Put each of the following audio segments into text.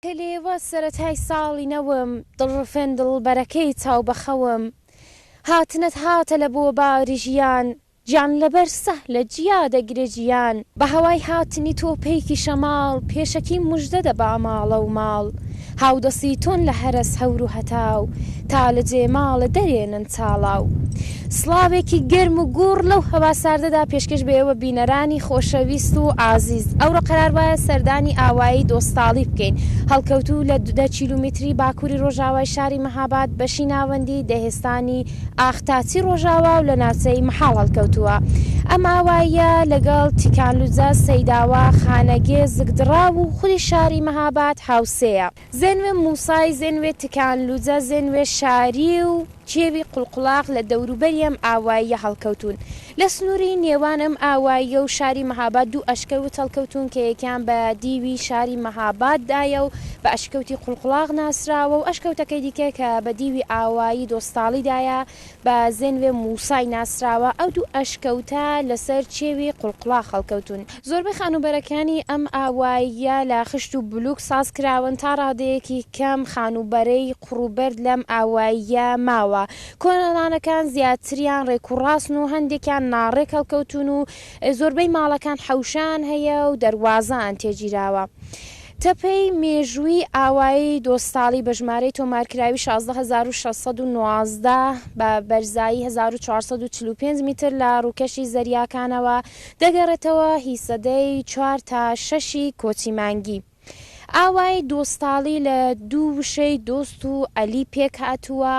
کە لێوە سەرەتای ساڵی نەوم. دڵڕفێن دڵبەرەکەی چاو بە خەوم. هاتنت هاتە لە بۆ باری ژیان. گیان لە بەر سەهلە جیا دەگرێ جیان. بە هەوای هاتنی تۆ پەیکی شەماڵ. پێشەکی موژدە دەبا ماڵە و ماڵ. هاودەسی تۆن لە هەرەس هەور و هەتاو. تا لە جێ ماڵێ دەرێنن چاڵاو. سڵاوێکی گەرم و گووڕ لەو هەوا ساردەدا پێشکەش بە ئێوە بینەرانی خۆشەویست و ئازیز. ئەوڕۆ قەرار وایە سەردانی ئاوایی دۆستاڵی بکەین، هەڵکەوتوو لە دە کیلومیتری باکووری ڕۆژاوای شاری مەهاباد بەشی ناوەندی دەهێستانی ئاختاچی ڕۆژاوا و لە ناوچەی مەحاڵ هەڵکەوتووە. ئەم ئاواییە لەگەڵ تیکانلوجە، سەیداوا، خانەگێ، زگدڕاو و خودی شاری مەهاباد هاوسێیە. زێنوێ مووسای، زێنوێ تکانلوجە، زێنوێ شاری و کێوی قوڵقوڵاق لە دەوروبەری ئەم ئاواییە هەڵکەوتوون. لە سنووری نێوان ئەم ئاواییە و شاری مەهاباد دوو ئەشکەوت هەڵکەوتوون کە یەکیان بە دیوی شاری مەهاباددایە و بە ئەشکەوتی قوڵقوڵاق ناسراوە و ئەشکەوتەکەی دیکە کە بە دیوی ئاوایی دۆستاڵیدایە بە زێنوێ موسای ناسراوە، ئەو دوو ئەشکەوتە لەسەر چێوی قوڵقوڵاخ هەڵکەوتوون. زۆربەی خانووبەرەکانی ئەم ئاواییە لە خشت و بلووک ساز کراون، تا ڕادەیەکی کەم خانووبەرەی قوڕ و بەرد لەم ئاواییە ماوە. کۆنەڵانەکان زیاتریان ڕێک و ڕاستن و هەندێکیان ناڕێک هەڵکەوتوون و زۆربەی ماڵەکان حەوشەیان هەیە و دەروازەیان تێگیراوە. تەپەی مێژوویی ئاوایی دۆستاڵی بە ژمارەی تۆمارکراوی شازدە هەزار و شەش سەد و نۆزدە بە بەرزایی هەزار و چوار سەد و چل و پێنج میتر لە ڕووکەشی زەریاکانەوە دەگەڕێتەوە هی سەدەی چوار تا شەشی کۆچی مانگی. ئاوایی دۆستاڵی لە دوو وشەی دۆست و الی پێکهاتووە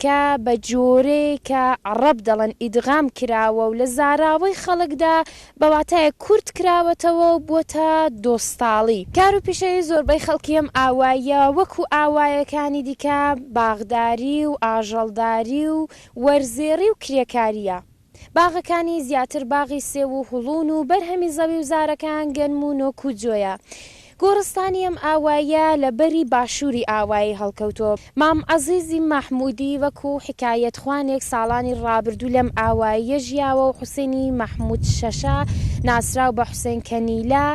کە بە جۆرەیەک کە عەڕەب دەڵێن ئیدغام کراوە و لە زاراوەی خەڵکدا بە واتایەک کورت کراوەتەوە و بووەتە دۆستاڵی. کار و پیشەی زۆربەی خەڵکی ئەم ئاواییە وەکو ئاوایەکانی دیکە باغداری و ئاژەڵداری و وەرزێڕی و کرێکارییە. باغەکانی زیاتر باغی سێو و هوڵوون و بەرهەمی زەوی و زارەکەیان گەنم و نۆک و جۆیە. گۆڕستانی ئەم ئاوایە لە بەری باشووری ئاوایی هەڵکەوتووە. مام عەزیزی مەحموودی وەکو حیکایەتخوانێک ساڵانی ڕابردوو لەم ئاوایە ژیاوە و حوسێنی مەحموود شەشە ناسراو بە حوسێن کەنیلە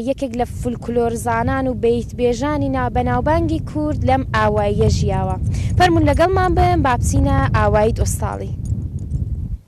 یەکێک لە فولکلۆرزانان و بەیتبێژانی نا بەناوبانگی کورد لەم ئاوایە ژیاوە. فەرموون لەگەڵمان بن با بچینە ئاوایید ئۆستاڵی.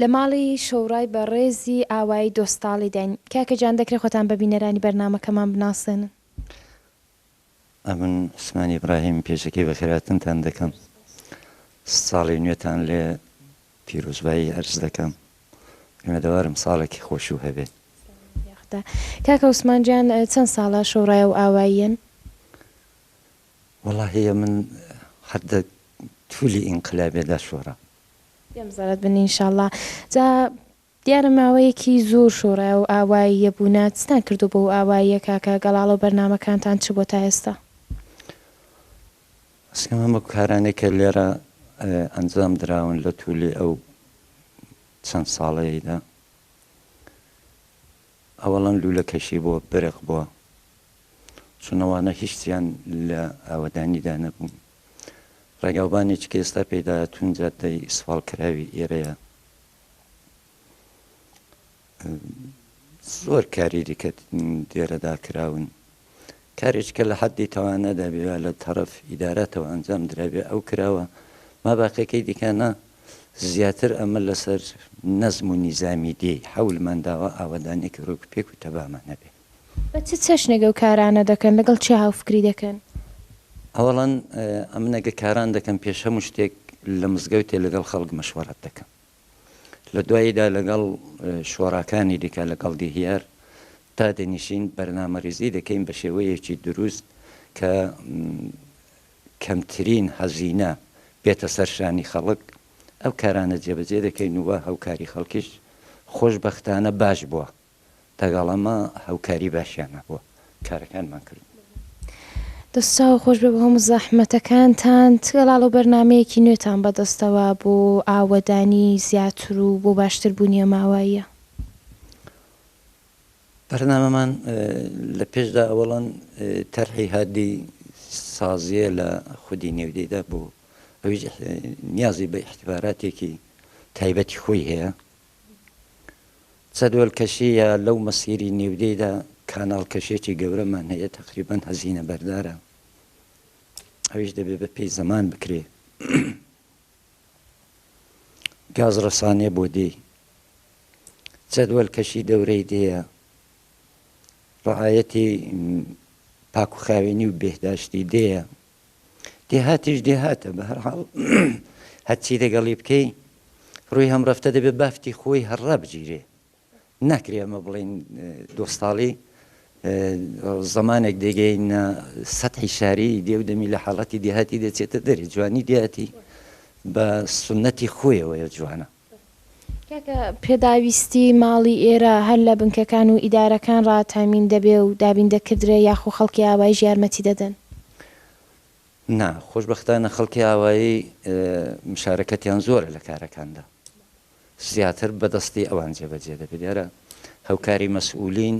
لە ماڵی شۆڕای بە ڕێزی ئاوایی دۆستاڵی داین. کاکە جان دەکرێ خۆتان بە بینەرانی بەرنامەکەمان بناسێنن؟ ئەمن عوسمان ئیبراهیم پێشەکی بەخێراتنتان دەکەم ساڵی نوێتان لێ پیرۆزبایی ئەرز دەکەم هیوادارم ساڵێکی خۆشو هەبێ. سڵاوت یاخدا کاکە عوسمان جان چەن ساڵە شۆڕایەو ئاواییەن؟ وەڵا هەیە من هەر دە تولی ئینقلابێ دا شۆڕا. پێم زەرەد بن ان شاءاللە. جا دیارە ماوەیەکی زۆر شۆڕایە و ئاواییە بوونە چتان کردووە بەو ئاواییە کاکە گەڵاڵە و بەرنامەکانتان چ بووە تا ئێستا؟ بەسکم هەموو کارانەی کە لێرە ئەنجام دراون لە تولی ئەو چەند ساڵەیەیدا. ئەوەڵەن لولەکەشی بۆ برق بوە چون ئەوانە هیچیان لە ئاوەدانیدا نەبوون ڕێگاوبانێکی کە ئێستا پێداهاتوون جادەی ئیسفاڵ کراوی ئێرەیە زۆر کاری دیکە دێرەدا کراون کارێک کە لە حەددی تەوانە دابێ و لە تەڕەف ئیدارەتەوە ئەنجام درابێ ئەو کراوە، ماباقیەکەی دیکە نا، زیاتر ئەمە لە سەر نەزم و نیزامی دێ، حەولمان داوە ئاوەدانێکی ڕێک و پێک و تەبامان هەبێ. بە چ چەشنێک ئەو کارانە دەکەن؟ لە گەڵ کێ هاوفکری دەکەن؟ ئەوەڵا ئەمن ئەگە کاران دەکەم پێش هەموو شتێک لە مزگەوتێ لە گەڵ خەڵک مەشوەڕەت دەکەم. لە دواییدا لەگەڵ شۆراکانی دیکە لەگەڵ دیهیار دادەنیشین بەرنامەریزی دەکەین بە شێوەیەکی دروست کە کەمترین هەزینە بێتە سەر شانی خەڵک ئەو کارانە جێبەجێ دەکەین و هەوکاری خەڵکیش خۆشبەختانە باش بووە. لەگەڵ ئەمە هاوکاری باشیان نەبووە کارەکانمان کردوون. دەست چاو خۆش بێ بۆ هەموو زەحمەتەکانتان تکە لاڵە و بەرنامەیەکی نوێتان بەدەستەوە بۆ ئاوەدانی زیاتر و بۆ باشتر بوونیە ماواییە. بەرنامەمان لە پێشدا ئەوەڵەن تەرحی هادی سازیە لە خودی نێودەیدا بوو ئەویش نیازی بە ئیحتیباراتێکی تایبەتی خۆی هەیە جەدول کەشی یا لەو مەسیری نیودەیدا کاناڵ کەشێکی گەورەمان هەیە تەقریبەن هەزینە بەردارە ئەویش دەبێ بە پێی زەمان بکرێ گاز ڕسانێ بۆ دێی جەدول کەشی دەورەی دێە ڕعاەتی پاکوخاوێنی و بێهداشتی دێە دێهاتیش دێهاتە بەهەرحاڵ هەرچی لەگەڵی بکەی ڕووی هەم ڕەفتە دەبێت بافتی خۆی هەر ڕابگیرێ ناکرێ ئەمە بڵین دۆستاڵی زمانێک دەگەینە سەحی شاری دێو دەمی لە حاڵەتی دێهاتی دەچێتە دەری جوانی دیاتی بە سنەتی خۆیەوەیە جوانە کاکە پێداویستی ماڵی ئێرە هەر لە بنکەکان و ئیدارەکان ڕا تامین دەبێ و دابین دەکردرێ یاخو خەڵکی ئاوایش یارمەتی دەدەن؟ نا، خۆشبەختانە خەڵکی ئاوایی مشارەکەتیان زۆرە لە کارەکاندا زیاتر بە دەستی ئەوان جێبەجێ دەبێ لێرە هەوکاری مەسئولین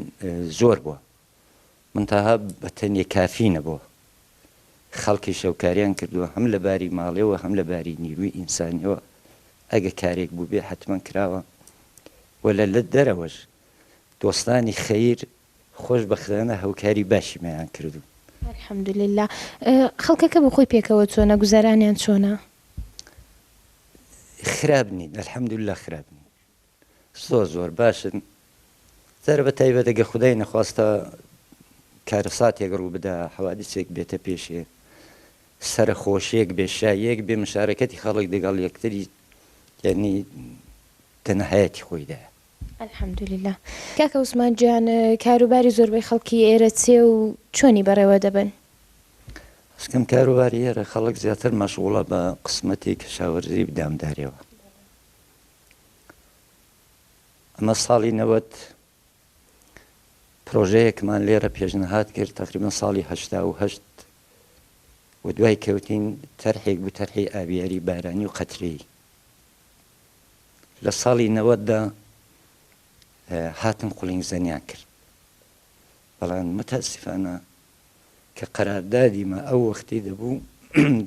زۆر بوە من تاها بە تەنێ کافی نەبووە. خەڵکیش هەوکاریان کردووە هەم لە باری ماڵی و هەم لە باری نیروی ئینسانیەوە ئەگە کارێک بووبێ حەتمەن کراوە و لە لە دەرەوەش دۆستانی خەیر خۆش بەختانە هەوکاری باشیمەیان کردوون. الحمد للە. خەڵکەکە بۆ خۆی پێکەوە چۆنە؟ گوزەرانیان چۆنە؟ خراپ نین الحمد للە خراپ نین. زۆر زۆر باشن جارە بە تایبەت ئەگەر خودای نەخواستا کارەساتێک ڕووبدا حەوادیسێک بێتە پێشێ سەرەخۆشیەک بێ شاییەک بێ مشارەکەتی خەڵک دەگەڵ یەکتری یعنی تەنەهایەتی خۆیدایە. الحمد للە کاکە عوسمان گیان کاروباری زۆربەی خەڵکی ئێرە چێ و چۆنی بەڕێوە دەبەن؟ ئەزکەم کاروباری ئێرە خەڵک زیاتر مەشغوڵە بە قسمەتی کەشاوەرزی و دامداریەوە ئەمە ساڵی نەوەد پرۆژەیەکمان لێرە پێشنەهات کرد تقریبا ساڵی هەشتا و هەشت و دوای کەوتین تەرحێک بوو تەرحی ئاویاری بارانی و قەترەی لە ساڵی نەوەدا هاتن قولینگ زەنیان کرد بەڵام متاسفانە کە قەراردادیمە ئەو وەختی دەبوو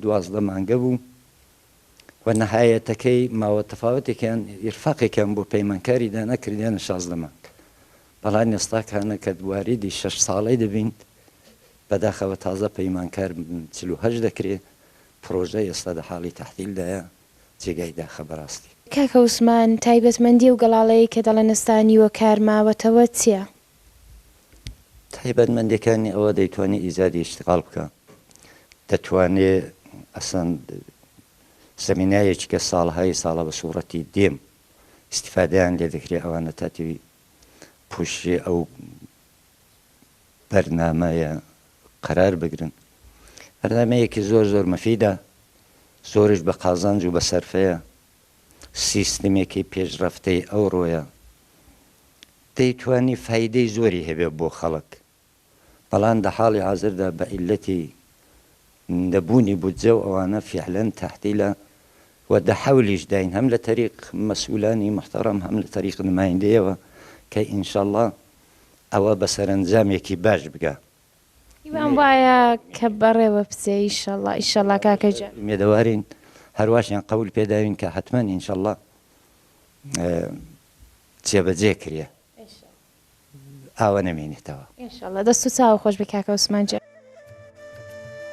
دوازدە مانگە بوو و نەهایەتەکەی ماوە تەفاوەتێکیان ئیرفاقێکیان بۆ پەیمانکاری دانا کردیانە شازدە مانگ بەڵام ئێستا کانە کە واریدی شەش ساڵەی دەبین بەداخەوە تازە پەیمانکار چل و هەشت دەکرێ پڕۆژە ئێستا لە حاڵی تەحتیل دایە جێگای داخە بەڕاستی. کاکە عوسمان تایبەتمەندی ئەو گەڵاڵەیەی کە دەڵێن ئێستا نیوە کار ماوەتەوە چیە؟ تایبەتمەندیەکانی ئەوە دەیتوانی ئیجادی ئیشتغال بکا دەتوانێ ئەسڵەن زەمینایەکی کە ساڵەهای ساڵە بە سوڕەتی دێم ئیستیفادەیان لێ دەکرێ ئەوانە تاتوی پوشی ئەو بەرنامەیە قەرار بگرن بەرنمەیەکی زۆر زۆر مەفیدە زۆرش بە قازانج و بە سەرفەیە سیستمێکی پێشڕەفتەی ئەوڕۆیە دەیتوانی فایدەی زۆری هەبێت بۆ خەڵک، بەڵام دە حاڵی حازردا بە عیللەتی نەبوونی بودجە و ئەوانە فیعلەن تەحتیلە و دە حەولیش داین هەم لە تەریق مەسئولانی موحتەڕەم هەم لە تەریق نمایندەیەوە کە ئینشەڵا ئەوە بە سەرەنجامێکی باش بگا. هیوام وایە کە بەڕێوە بچێ ئیشەڵا ئیشەڵا کاکە گیان. ئومێدەوارین هەرواشیان قەول پێ داوین کە حەتمەن ئینشەڵا جێبەجێ کرێ ئاوە نەمێنێتەوە. ئینشەڵا دەست و چاوت خۆش بی کاکە عوسمان گیان.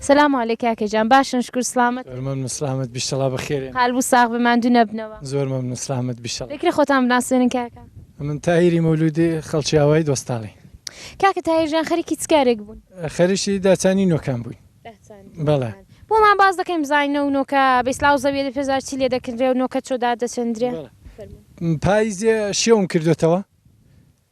سلام علیک کاکە جان باشن شکور سلامت. زۆر مەمنون سلامت بیش تەڵا بەخێرێن. قال بوو ساغ بی ماندوو نەبنەوە. زۆر مەمنون سلامت بیش تەڵا. دەکرێ خۆتان بناسێنن کاکە. من تاهیری مولودی خەڵکی ئاوایی دۆستاڵی. کاکە تاهیر جان خەریکی چ کارێک بوون؟ خەریکی داچانی نۆکان بووین. داچانی نۆکان. بەڵێ. بۆمان باس دەکەی بزانین ئەو نۆکە بەیسلاو زەویە دە پێزار چی لێ دەکردرێ و نۆکە چۆ دار دەچندرێ؟ بەڵێ. فەرموو. پاییزێ شێوم کردۆتەوە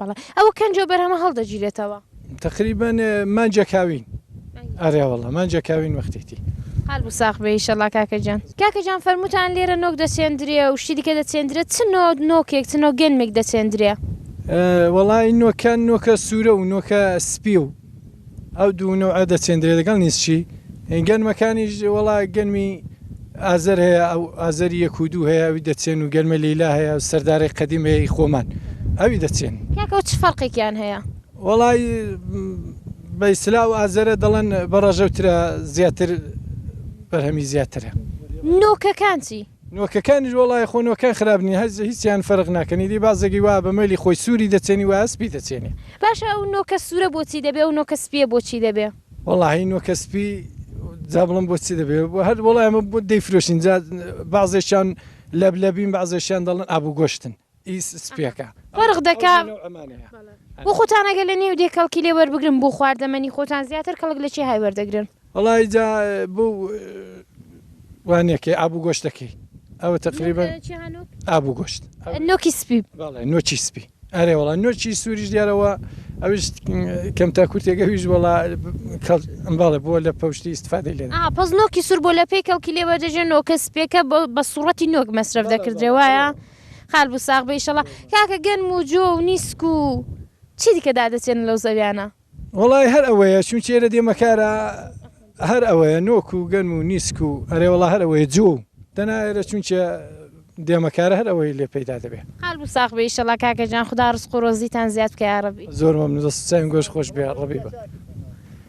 بەڵێ ئەوە کەنجەو بەرهەمە هەڵدەگیرێتەوە. تەقریبەن مانجە کاوین. ئەرێ وەڵا مانجە کاوین وەختێتی. قال بو ساخ بێ ئیشەڵا کاکە جان. کاکە جان فەرموتان لێرە نۆک دەچێندرێ و شتی دیکە دەچێندرێ چ نۆ نۆکێک چ نۆ گێنمێک دەچێندرێ؟ وەڵای نۆکە نۆکە سورە و نۆکە سپی و ئەو دوو نەوعە دەچێندرێت لەگەڵ نیسچی. گەنمەکانیش وەڵا گەنمی ئازەر هەیە ئەو ئازەری یەک و دوو هەیە ئەوی دەچێن و گەنمە لیلا هەیە و سەردارەی قەدیم هەیە ئی خۆمان ئەوی دەچێن. کاکە و چ فەرقێکیان هەیە؟ وەڵای بە ئیستلاح ئەو ئازەرە دەڵێن بە ڕەژەوترە زیاتر بەرهەمی زیاترە. نۆکەکان چی؟ نۆکەکانیش وەڵای خۆ نۆکەکان خراپ نین هەر هیچیان فەرق ناکەن ئیدی بازێکی وا بە مەلی خۆی سوری دەچێنی وایە سپی دەچێنێ. باشە ئەو نۆکە سورە بۆچی دەبێ ئەو نۆکە سپیە بۆچی دەبێ. وەڵاهی نۆکە سپی جا بڵێم بۆ چی دەبێ هەر وەڵای ئەمە دەیفرۆشین جا بەعزێکیان لەبلەبین بەعزێکیان دەڵێن ئابوگۆشتن. فەرق دەکا بۆ خۆتان ئەگەر لە نێو دێ کەڵکی لێ وەربگرن بۆ خواردەمەنی خۆتان زیاتر کەڵک لە چی های وەردەگرن وەڵای جا بۆ وانەکەی ئابوو گۆشتەکەی ئەوە تقریبا ئابوو گۆشت نۆکی سپی نۆچی سپی ئەرێ وڵا نۆچی سووریش دیارەوە ئەوش کەمتا کورتێک ئەویش وڵا ئەمباڵێ بۆ لە پشتی استفادی لێ پس نۆکی سوور بۆ لە پێی کەڵکی لێوەدەژێن نۆکە سپێکە بە سوڕەتی نۆک مەسرف دەکردێ وایە خال بوو ساغ بە ئیشەڵا. کاکە گەنم و جۆ و نیسک و چی دیکە دادەچێنن لەو زەویانە؟ وەڵای هەر ئەوەیە چونکی ئێرە دێمە کارا هەر ئەوەیە نۆک و گەنم و نیسک و ئەرێ وەڵا هەر ئەوەیە جۆ و دەنا ئێرە چونکی دێمە کارا هەر ئەوەی لێ پەیدا دەبێ. خال بوو ساغ بە ئیشەڵا کاکە جان خودا ڕزق و ڕۆزیتان زیاد بکە یاڕەبی. زۆر مەمنون دەست و چاوین گۆشت خۆش بێ ڕەبی بە.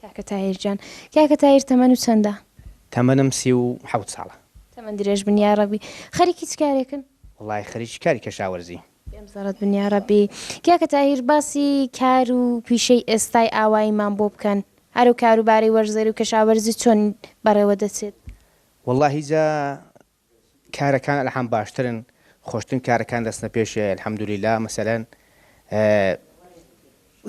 کاکە تاهیر جان کاکە تاهیر تەمەن و چەندە؟ تەمەنم سی و حەوت ساڵە. تەمەن درێژ بن یاڕەبی. خەریکی چ کارێکن؟ وەڵاهی خەریکی کاری کەشاوەرزی. بێم زەڕەت بن یاڕەبی. کاکە تاهیر باسی کار و پیشەی ئێستای ئاواییمان بۆ بکەن هەر و کاروباری وەرزێر و کەشاوەرزی چۆن بەڕێوە دەچێت؟ وەڵاهی جا کارەکان ئەلحم باشترن خۆشترین کارەکان دەچنە پێشێ الحمدللە مەسەلەن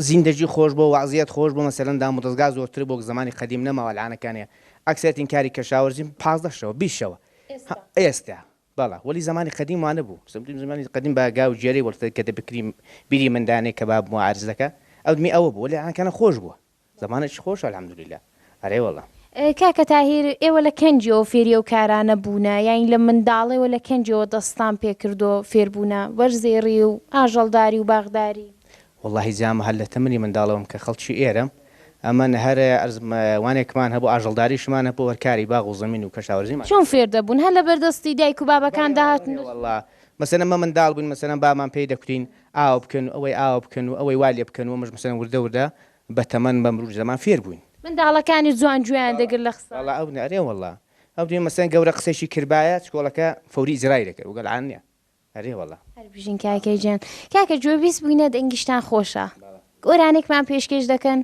زیندەگی خۆش بۆ وەعزیەت خۆش بۆ مەسەلەن دامودەزگا زۆرتر بۆ زمانی قەدیم نەماوە العانەکانێ ئەکسەرەتین کاری کەشاوەرزیم پازدە شەوە بیست شەوە ئێستا بەڵا وەلی زمانی قەدیم وانە بوو سمتیم زمانی قەدیم بە گاو جێری وەڵتە کە دەبکریم بیری مندانێ کە باب موعرزەکە ئەودمی ئەوە بوو لە عانکانە خۆش بووە زمانێکی خۆشە الحمدللە ئەرێ وەڵا. کاکە تاهیر ئێوە لە کەنجیەوە فێری ئەو کارانە بوونە یانی لە منداڵێوە لە کەنجەوە دەستتان پێ کردو فێر بوونە وەرزێڕی و ئاژەڵداری و باغداری؟ وەڵاهی جامە هەر لە تەمەنی منداڵەوەم کە خەڵکی ئێرەم ئەمن هەر ئەرز وانێکمان هەبوو ئاژەڵداریشمان هەبوو هەر کاری باغ و زەمین و کەشاورزیمان چۆن فێر دەبوون هەر لەبەر دەستی دایک و بابەکان دەهاتن؟ بەڵێ وەڵا مەسەلەن مە منداڵ بووین مەسەلەن بابمان پێی دەکوتین ئاوا بکەن و ئەوەی ئاوا بکەن و ئەوەی وا لێ بکەن و ئەمەش مەسەلەن وردە وردە بە تەمەن بە مروج زەمان فێر بووین. منداڵەکانیش جوان گوێیان دەگرت لە قسە. وەڵا ئەو نە ئەرێ وەڵا ئەو دێ مەسەلەن گەورە قسەیشی کردبایە چکۆڵەکە فەوری ئیجرای دەکرد وگەل عان نیە ئەرێ وەڵا. هەر بژین کاکە گیان. کاکە گوێبیست بووینە دەنگیشتان خۆشە. گۆرانێکمان پێشکێش دەکەن؟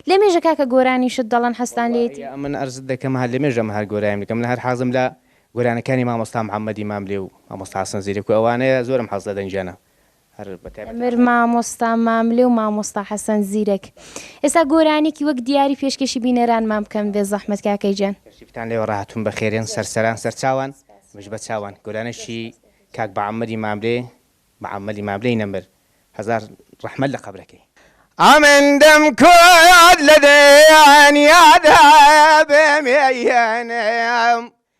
لە مێژە کاکە گۆرانیشت دەڵێن حەزتان لێیەتی. وەڵاهی ئەمن عەرزت دەکەم هەر لە مێژە من هەر گۆرانیم دەکەم من هەر حەزم لە گۆرانەکانی مامۆستا محمدی ماملێ و مامۆستا حەسەن زیرەک و ئەوانەیە زۆرم حەز لە دەنگیانە هەر بە تایبەتی ئەمر مامۆستا ماملێ و مامۆستا حەسەن زیرەک ئێستا گۆرانیەکی وەک دیاری پێشکەشی بینەرانمان بکەن بێ زەحمەت کاکە گیان. کەشتیفتان لێوە ڕاهاتوون بەخێرێن سەرسەران سەرچاوان مژ بە چاوان گۆرانێکی کاک بەعەممەری ماملێ بەعەممەلی ماملێی نەمر هەزار ڕەحمەت لە قەبرەکەی. ئەمن دەم کورد لە دەیان یادە بێ مێیەنم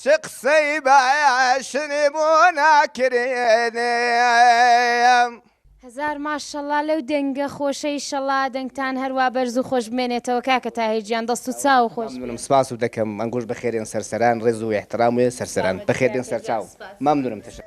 چ قسەی باشنی بۆ ناکرێنێ. هەزار ماشەڵا لەو دەنگە خۆشە ئیشەڵا دەنگتان هەروا بەرز و خۆش بمێنێتەوە کاکە تاهیر گیان دەست و چاو خۆش بێت. مەمنونم سپاست دەکەم ئەنگوش بەخێرێن سەرسەران ڕێز و ئیحتڕام و سەرسەران بەخێربێن سەرچاو مەمنونم تشکر.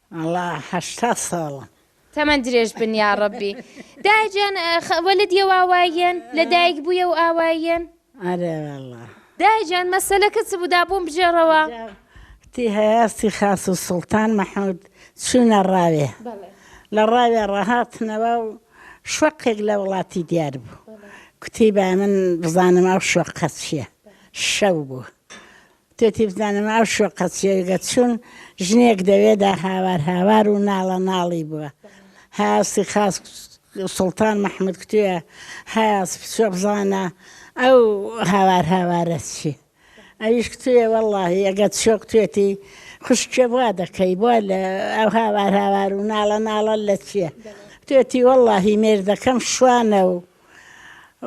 وەڵا هەشتا ساڵە. تەمەن درێژ بن یاڕەبی. دایە جان خ ولد یە و ئاواییەن؟ لە دایک بوویە و ئاواییەن؟ ئەرێ وەڵا. دایە جان مەسەلەکە چ بوو دا بۆم بژێڕەوە. تی هەیاستی خاس و سوڵتان مەحمود چوونە ڕاوێ لە ڕاوێ ڕەهاتنەوە و شوەقێک لە وڵاتی دیار بوو کوتی با من بزانم ئەو شوەقە چیە شەو بوو تۆ تێ بزانم ئەو شۆقە چیە گە چون ژنێک دەوێ دا هاوار هاوار و ناڵە ناڵی بوە هاستی خاس سوڵتان مححمود کتێە هاس پچۆ بزانە ئەو هاوار هاوارە چی ئەویش کتێ وەڵی ئەگەت شۆک توێتی خوشکێ بوا دەکەی بۆ لە ئەو هاوار هاوار و ناڵە ناڵە لە چیە توێتی وەڵی مێردەکەم شوانە و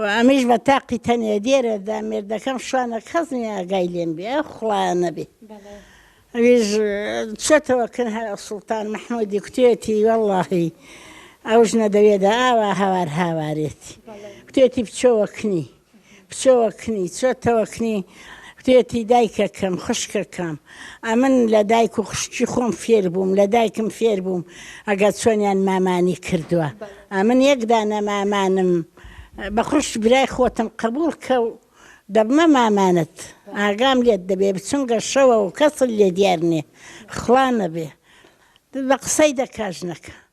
و ئەمیش بە تاقی تەنێ دێرێ دا مێردەکەم شوانە کەس نیە ئاگای لێم بێ ئەو خوڵایە نەبێ ئەویش چێتەوە کن هەر سوڵتان مححمودی کوتێتی وەڵاهی ئەو ژنە دەوێدا ئاوا هاوار هاوارێتی کوتێتی بچۆوە کنی بچۆوە کنی چۆتەوە کنی وتێتی دایکە کەم خوشکە کەم ئەمن لە دایک و خوشکی خۆم فێر بووم لە دایکم فێر بووم ئەگەر چۆنیان مامانی کردووە ئەمن یەک دانە مامانم بە خوشک برای خۆتم قبوڵ کە و دەبمە مامانت ئاگام لێت دەبێ بچونگە شەوە و کەسل لێ دیار نیە خوا نەبێ بە قسەی دەکاژنەکە.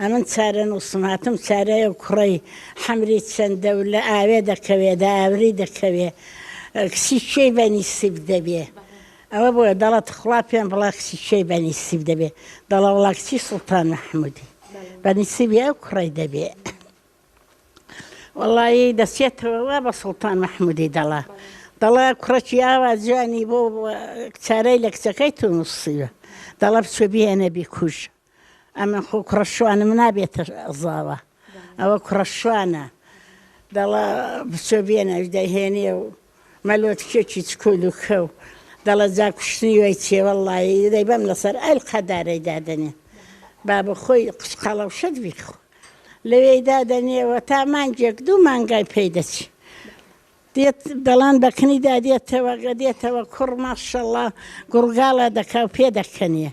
ئەمن چارەنووسمهاتم چارەیە کوڕەی حەمری چەندەولە ئاوێ دەکەوێ دە ئاوری دەکەوێ کچی کوێی بەنی سیب دەبێ ئەوە بۆیە دەڵەت خڵا پێم بڵا کچی کوێی بەنی سیب دەبێ دەڵە وڵا کچی سڵتان مححمودی بەنی سیبی ئەو کوڕی دەبێ وڵی دەچێتەوە بە سڵتان مححمودی دەڵا دەڵە کوڕەکی ئاوا جوانی بۆ چارەی لە کچەکەی تو نووسیوە دەڵە بچێ بێنە بیکوژە ئەمن خۆ کوڕە شوانم نابێتە زاوا ئەوە کوڕە شوانە دەڵە بچۆ بێنەش دەهێنێ و مەلۆ تکێکی چکۆل و کەو دەڵە جا کوشتنی وای چێ وەڵڵاهی دەی بەم لەسەر ئەل قەدارەی دادەنێ بابە خۆی قچ قەڵەوشەت بیخۆ لەوێی دادەنێ و تا مانگێک دوو مانگای پێی دەچێ دێت دەڵان بەکنیدا دێتەوە گەدێتەوە کوڕ ماشەڵا گوڕگاڵە دەکا و پێ دەکەنێ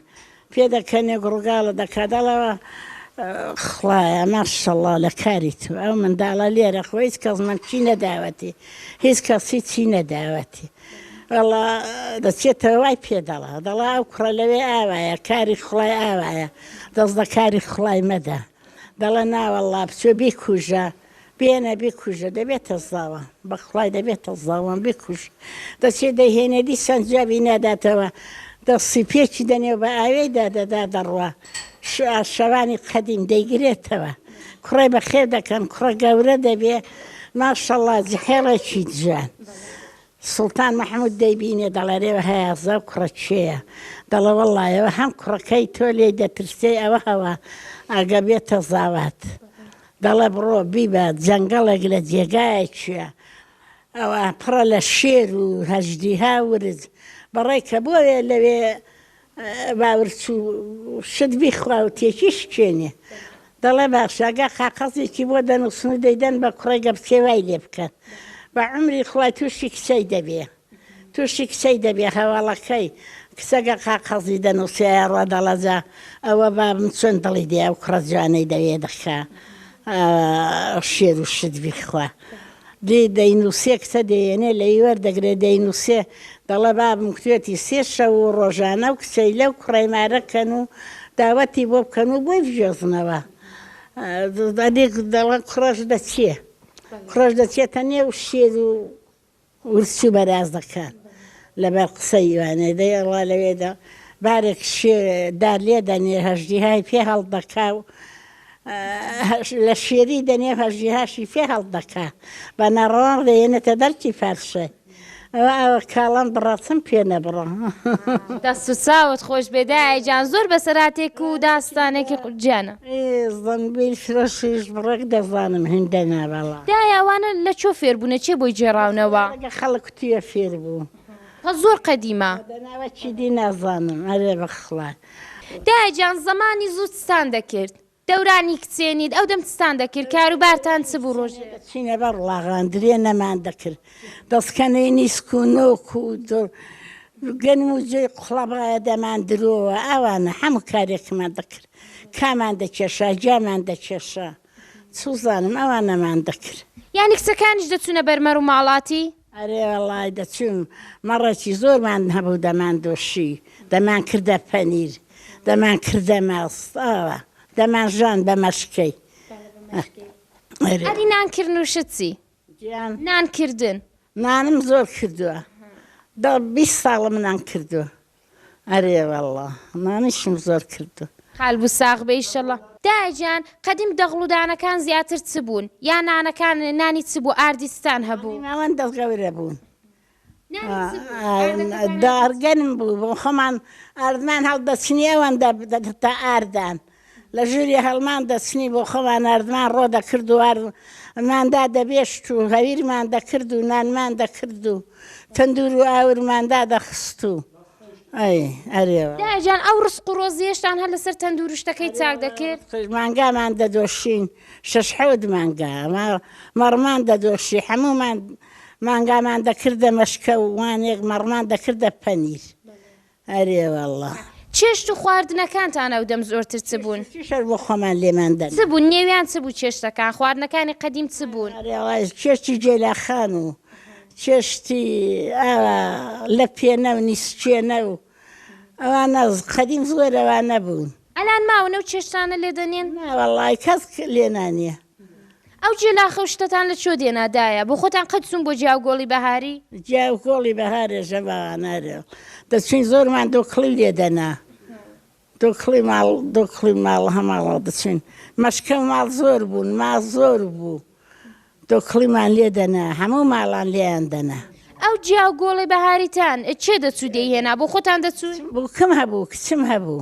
پێ دەکەنێ گوڕگاڵە دەکا دەڵەوە خوایە ماشەڵا لە کاری تو ئەو منداڵە لێرە خۆ هیچ کەس من چی نەداوەتی هیچ کەسی چی نەداوەتی وڵا دەچێتەوە وای پێ دەڵا دەڵا ئەو کوڕە لەوێ ئاوایە کاری خڵای ئاوایە دەست بە کاری خڵای مەدە دەڵە ناوەڵا بچێ بیکوژە بێنە بیکوژە دەبێتە زاوە. بەخوای دەبێتە زاوان بیکوژ دەچێ دەیهێنێ دیسان جوابی ناداتەوە دەستی پێکی دەنێ و بە ئاوێی دا دەدا دەڕوا شەوانی قەدیم دەیگرێتەوە کوڕێ بەخێو دەکەن کوڕە گەورە دەبێ ماشەڵا جحێڵێکی جوان سوڵتان مەحمود دەیبینێ دەڵێرێ هەیاسە و کوڕە کێیە؟ دەڵێ وەڵڵا ئێوە هەم کوڕەکەی تۆ لێی دەترسێی ئەوە هەوا ئەگە بێتە زاوات دەڵێ بڕۆ بیبە جەنگەڵێک لە جێگایەکیە ئەوە پڕە لە شێر و هەژدیها و ورچ بەڕێکە بۆیە لەوێ باورچو شت بیخوا و تێکی شکێنێ دەڵێ باشە ئەگەر قاقەزێکی بۆ دەنوسن و دەیدەن بە کوڕەی گەپچێ وای لێ بکەن بە عومری خوا توشی کچەی دەبێ توشی کچەی دەبێ هەواڵەکەی کچە گەر قاقەزی دەنوسێ ئەڕا دەڵە جا ئەوە بابم چۆن دڵی دێ ئەو کوڕە جوانەی دەوێ دەخا شێر و شت بیخوا دێ دەینووسێ کچە دێیەنێ لێی وەردەگرێ دەینووسێ دەڵێ بابم کوێتی سێ شەو و ڕۆژانە و کچەیلە و کوڕەی مارە کەن و داوەتی بۆ بکەن و بۆی بگوێزنەوە دەدی دەڵێ کوڕەش دەچێ کوڕەش دەچێتە نێو شێر و ورچ و بەرازەکان لەبەر قسەی وانێ دەی ئەڵا لەوێدا بارێک شێ دار لێ دەنێ هەژدیهای پێ هەڵدەکا و لە شێری دەنێ هەژیهاشی فێ هەڵدەکا بە نەڕەوان ڕێێنێتە دەرکی فەرشێ ئەوە ئەوە کاڵم بڕەتم پێ نەبڕە دەست و چاوت خۆش بێ دایە جان زۆر بەسەراتێک و داستانێکی قورجیانە زەمبیل فرۆشیش بڕێک دەزانم هێندە نابەڵا دایە ئەوانە لە چۆ فێربوونە چێ بۆی جێڕاونەوە لەگە خەڵک کوتیە فێر بوو هە زۆر قەدیمە دەناوە چیدی نازانم ئەرێ بەخڵات دایە گیان زەمانی زوو چتان دەکرد دەورانی کچێنیت ئەو دەم چتان دەکرد کاروبارتان چ بوو ڕۆژ چینە بە ڕڵاغان درێ نەمان دەکرد دەسکەنەی نیسک و نۆک و گەنم و جێ قوڵەبایە دەمان درۆوە ئاوانە هەموو کارێکمان دەکرد کامان دەکێشا گیامان دەکێشا. سوزانم ئەوان نەمان دەکرد. یانی کچەکانیش دەچونە بەر مەر و ماڵاتی؟ ئەرێ وەڵای دەچوون مەڕێکی زۆرمان هەبوو دەمان دۆشی دەمان کردە پەنیر دەمان کردە ماست ئاوا دەمان ژان بە مەشکەی ئەرێ. ئەدی نان کردن و شت چی؟ جیان. نان کردن. نانم زۆر کردووە دە بیست ساڵە منان کردووە. ئەرێ واللە نانیشم زۆر کردوە. قالبو ساغ بێ ئیشەڵا. دایە گیان قەدیم دەغڵ و دانەکان زیاتر چ بوون یا نانەکان نانی چ بوو ئاردی چتان هەبوو؟ نانی ناوەند دەست گەورە بوو دار گەرم بوو بۆ خۆمان ئاردمان هەڵدەچنی ئەوەندە تا ئاردان. لە ژووری هەڵمان دەچنی بۆ خۆمان ناردمان ڕۆ دەکرد و وار مان دا دەبێشت و هەویرمان دەکرد و نانمان دەکرد و تەندوور و ئاورمان دا دەخست و ئەی ئەرێ وا. دایە جان ئەو ڕسق و ڕۆزیەشتان هەر لەسەر تەندوور و شتەکەی چاک دەکرد؟ ئەرێ وا ڕسق مانگامان دەدۆشین شەش حەوت مانگا ما مەڕمان دەدۆشی حەموومان مانگامان دەکردە مەشکە و وانێک مەڕمان دەکردە پەنیر ئەرێ واللە. چێشت و خواردنەکانتان ئەو دەم زۆرتر چ بوون؟ چێشت و چیشەش بۆ خۆمان لێمان دەنا. چ بوون؟ نێویان چ بوو چێشتەکان؟ خواردنەکانی قەدیم چ بوون؟ ئەرێ وەڵا چێشتی جێلاخان و چێشتی ئاوا لەپێنە و نیسکێنە و ئەوانە قەدیم زۆر ئەوانە بوون. ئەلان ماونە و چێشتانە لێ دەنێن؟ نا وەڵای کەس لێ نانێ. ئەو جیە لاخە و شتەتان لە چۆ دێنا دایە؟ بۆ خۆتان قەت چوون بۆ جیا و گۆڵی بەهاری؟ جیا و گۆڵی بەهارێ ژە باوانارێ دەچووین زۆرمان دۆکڵی لێ دەنا دۆکڵی ماڵ دۆکڵی ماڵ هەماڵەوە دەچووین مەشکەو ماڵ زۆر بوون ما زۆر بوو دۆکڵیمان لێ دەنا هەموو ماڵان لێیان دەنا. ئەو جیا و گۆڵی بەهاریتان چێ دەچوو دەیهێنا بۆ خۆتان دەچوون؟ بووکم هەبوو کچم هەبوو.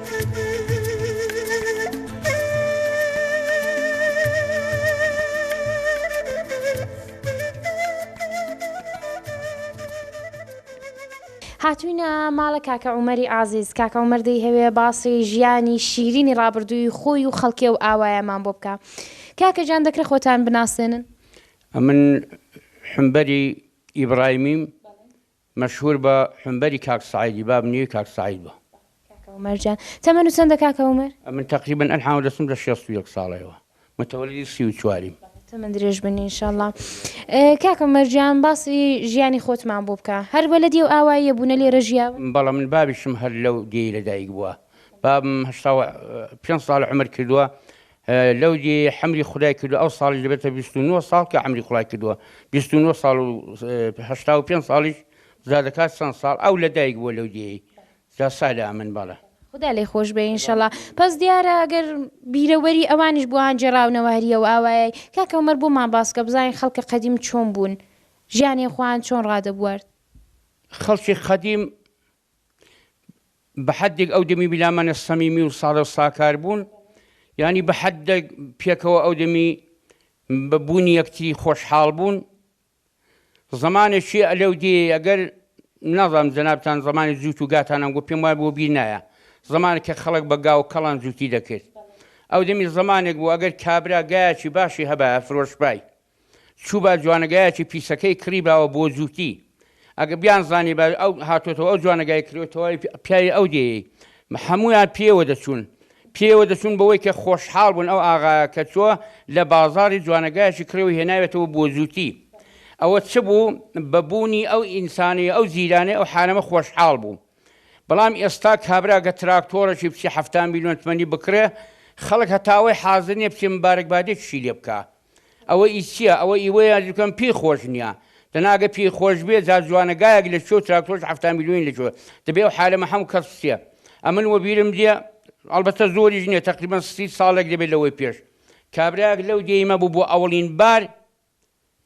هاتووینە ماڵە کاکە عومەری ئازیز کاکە عومەر دەیهەوێ باسی ژیانی شیرینی ڕابردووی خۆی و خەڵکێ و ئاوایەمان بۆ بکە کاکە جان دەکرێت خۆتان بناسێنن ئەمن حمبەری ئیبڕایمیم مەشهور بە حونبەری کاک سەعیدی باب نیوی کاک سەعید بە. کاکە عومەر جان تەمەن و چەندە کاکە عومەر؟ ئەمن تەقریبەن ئەلحان و دەچم لە شێست و یەک ساڵەیەوە متەوەلیدی سی و چواریم. تەمەن درێژ بن ان شاءاللە. کاک عومەر جان باسی ژیانی خۆتمان بۆ بکە هەر وەلەدی ئەو ئاواییە بوونە لێرە ژیاون؟ بەڵە من بابیشم هەر لەو دێی لەدایک بووە بابم هەشتا و پێنج ساڵە عومر کردووە لەو دی حەمری خودای کردوە ئەو ساڵی دەبێتە بیست و نۆ ساڵ کە حەمری خودای کردوە بیست و نۆ ساڵ و هەشتا و پێنج ساڵیش جا دەکات چەند ساڵ ئەو لە دایک بووە لەو دیەی جا سالە ئەمن بەڵێ خودا لێ خۆش بێ ئینشەڵا پس دیارە ئەگەر بیرەوەری ئەوانیش بۆیان جێراونەواریە و ئاوایای کاکە عومەر بۆمان باسکە بزانین خەڵکە قەدیم چۆن بوون ژیانیان خۆیان چۆن ڕادەبوارد. خەڵکی قەدیم بە حەدێک ئەو دەمی بلامانە سەمیمی و ساڵە و ساکار بوون ینی بە حەدێک پێکەوە ئەو دەمی بە بوونی یەکتری خۆشحاڵ بوون زمانێکی ئەلەو دێ ئەگەر ناڵام جەنابان زمانی جووت و گاتانم گو پێم وای بۆ بیر نایە زمانە کە خەڵک بە گا و کەڵان جووتی دەکرد ئەو دەمی زمانێک بوو ئەگەر کابرا گایەکی باشی هەبە فرۆشپای چوو با جوانگایەکی پیسەکەی کڕیباوە بۆ جووتی ئەگە بیان زانیبا ئەو هاتۆتەوە ئەو جوانگای کرێ تەواوی پیاوی ئەو دێی هەمویان پێوە دەچوون پێوە دەچوون بەوەی کە خۆشحاڵ بوون ئەو ئاغایە کە چووە لە بازاری جوانگایەکی کڕێەوە هێناوێتەوە بۆ جووتی ئەوە چ بوو بەبوونی ئەو ئینسانی ئەو جیرانەی ئەو حانەمە خۆشحاڵ بوو بەڵام ئێستا کابراگە تراکتۆرەی بچی هەفتا میلیۆن تمەنی بکڕێ خەڵک هەتاوەی حازر نیە بچێ مبارەکبادێکیشی لێ بکە ئەوە ئی چیە ئەوە ئی وەیە ئەرزو کەم پێی خۆش نیە دەنا ئەگەر پێی خۆش بێ جا جوانە گایەک لە چۆ تراکتۆرش حەفتا میلیۆنی لە چۆ دەبێ ئەو حالەمە حەمو کەس چیە ئەمن وەبیرم دێ ئەڵبەتە زۆریش نیە تەقریبەن سی ساڵێک دەبێ لەوەی پێش کابرایەک لەو دێیمە بوو بۆ ئەوڵین بار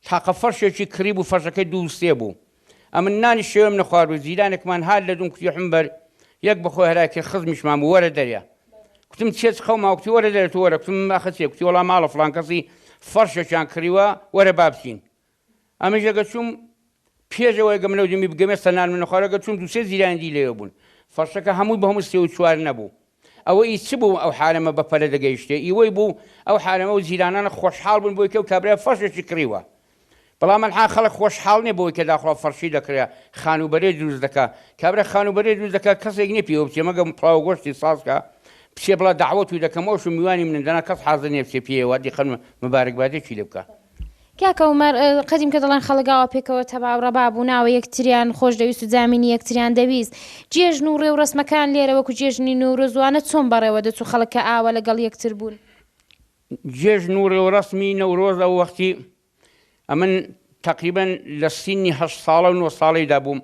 تاقە فەرشێکی کڕیبوو فەرشەکەی دوو سێ بوو ئەمن نانی شەوێم نەخوارد و جیرانێکمان هات لە دووم کوتی حمبەر یەک بخۆ هەرا کرد خزمیشمان بوو وەرە دەریا کوتم چیە چ خەوما کوتی وەرە دەرێ تو وەرە کوتم ئاخە چیە کوتی وەڵا ماڵە فڵان کەسی فەرشێکیان کڕیوە وەرە با بچین ئەمنیش ئەگە چووم پێش ئەوەی گەم لەو دەمی بگەمێ سەنان من نەخوارەگە چووم دوو سێ جیرانی دی لەوێ بوون فەرشەکە هەمووی بە هەموو سێ و چوار نەبوو ئەوە ئی چ بوو ئەو حارەمە بە پەلە دەگەیشتێ، ئی وەی بوو ئەو حارەمە و جیرانانە خۆشحاڵ بوون بۆی کە و کابرا فەرشێکی کڕیوە. بەڵام ئەنها خەڵک خۆشحاڵ نیە بەوەی کە داخوا فەرشی دەکڕێ، خانووبەرەی دروست دەکا. کابرا خانووبەرەی دروست دەکا کەسێک نیە پێوە بچێ مەگەم پڵاو و گۆشتی ساز کا، بچێ بڵا دەعوەتووی دەکەم ئەوشم میوانی منن دەنا کەس حازر نیە بچێ پێیەوە دیقەن و مبارەکبادێکی لێ بکا. کاکە عومەر قەدیم کە دەڵێن خەڵک ئاوا پێکەوە تەباو ڕەبا بوو ناوە یەکتریان خۆش دەویست و جامینی یەکتریان دەویست جێژن و ڕێو ڕەسمەکان لێرە وەکو جێژنی نەورۆز وانە چۆن بەڕێوە دەچوو خەڵک کە ئاوا لە گەڵ یەکتر بوون. جێژن و ڕێوڕەسمی نەورۆز ئەو وەختی ئەمن تەقریبەن لە سیننی هەشت ساڵە و نۆ ساڵەیدا بووم،